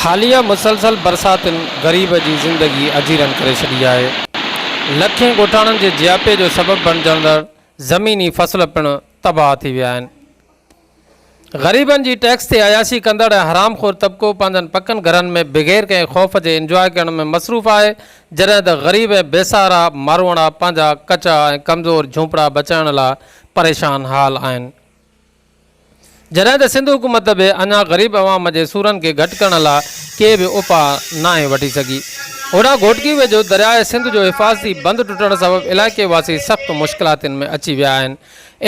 حاليه مسلسل برساتن غريب جي زندگي اجيرن ڪري ڇڏي آهي. لکين ڳوٺاڻن جي جياپي جو سبب بڻجندڙ زميني فصل پڻ تباهه ٿي ويا آهن. غريبن جي ٽيڪس تي عياشي ڪندڙ ۽ حرام خور طبقو پنهنجن پڪن گهرن ۾ بغير ڪنهن خوف جي انجواء ڪرڻ ۾ مصروف آهي جڏهن ته غريب ۽ بي سهارا ماروئڙا پنهنجا ڪچا ۽ ڪمزور جهونپڙا بچائڻ لاء پريشان حال آهن. جڏهن ته سنڌ حڪومت به اڃا غريب عوام جي سورن کي گهٽ ڪرڻ لاء ڪي به اپاء ناهي وٺي سگهي. هوڏانهن گهوٽڪي ويجهو درياء سنڌ جو حفاظتي بند ٽٽڻ سبب علائقي واسي سخت مشڪلاتن ۾ اچي ويا آهن.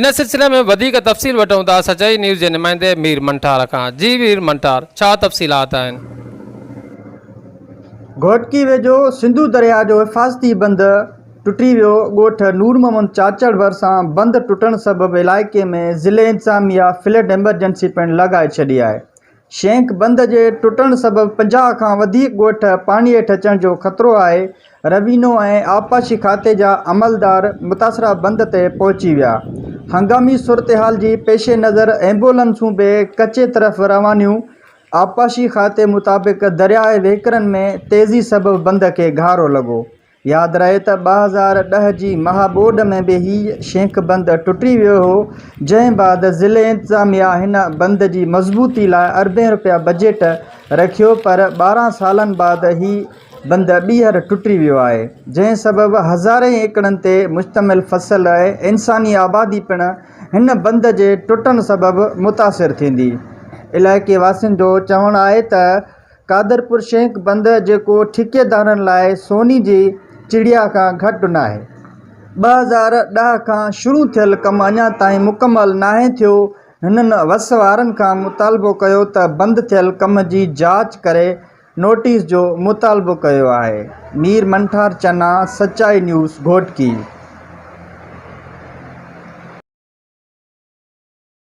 ان سلسلي ۾ وڌيڪ تفصيل وٺون ٿا سچائي نيوز جي نمائندي مير منٺار کان جي مير منٺار ڇا تفصيلات آهن؟ گهوٽڪي ويجهو سنڌو درياء جو حفاظتي بند ٽٽي ويو، ڳوٺ نور محمد چاچڙ ڀرسان بند ٽٽڻ سبب علائقي ۾ ضلعي انتظاميا فلڊ ايمرجنسي پڻ لاڳائي ڇڏي آهي، شينڪ بند جي ٽٽڻ سبب پنجاهه کان وڌيڪ ڳوٺ پاڻي هيٺ اچڻ جو خطرو آهي، روينو ۽ آبپاشي کاتي جا عملدار متاثره بند تي پهچي ويا، هنگامي صورتحال جي پيش نظر ايمبولنسون به ڪچي طرف روانيون، آبپاشي کاتي مطابق درياهه وهڪرن ۾ تيزي سبب بند کي گهارو لڳو، ياد رهي ته ٻه هزار ڏهه جي مها ٻوڏ ۾ به هي شينڪ بند ٽٽي ويو هو، جنهن بعد ضلعي انتظاميا هن بند جي مضبوطي لاء اربين رپيا بجيٽ رکيو پر ٻارهن سالن بعد هي بند ٻيهر ٽٽي ويو آهي، جنهن سبب هزارين ايڪڙن تي مشتمل فصل ۽ انساني آبادي پڻ هن بند جي ٽٽڻ سبب متاثر ٿيندي. علائقي واسين جو چوڻ آهي ته. قادرپور شينڪ بندر جيڪو ٺيڪيدارن لاء سوني جي چڙيا کان گهٽ ناهي. ٻه هزار ڏهه کان شروع ٿيل ڪم اڃا تائين مڪمل ناهي ٿيو، هنن وس وارن کان مطالبو ڪيو ته بند ٿيل ڪم جي جاچ ڪري نوٽيس جو مطالبو ڪيو آهي. مير منٺار چنا، سچائي نيوز، گهوٽڪي.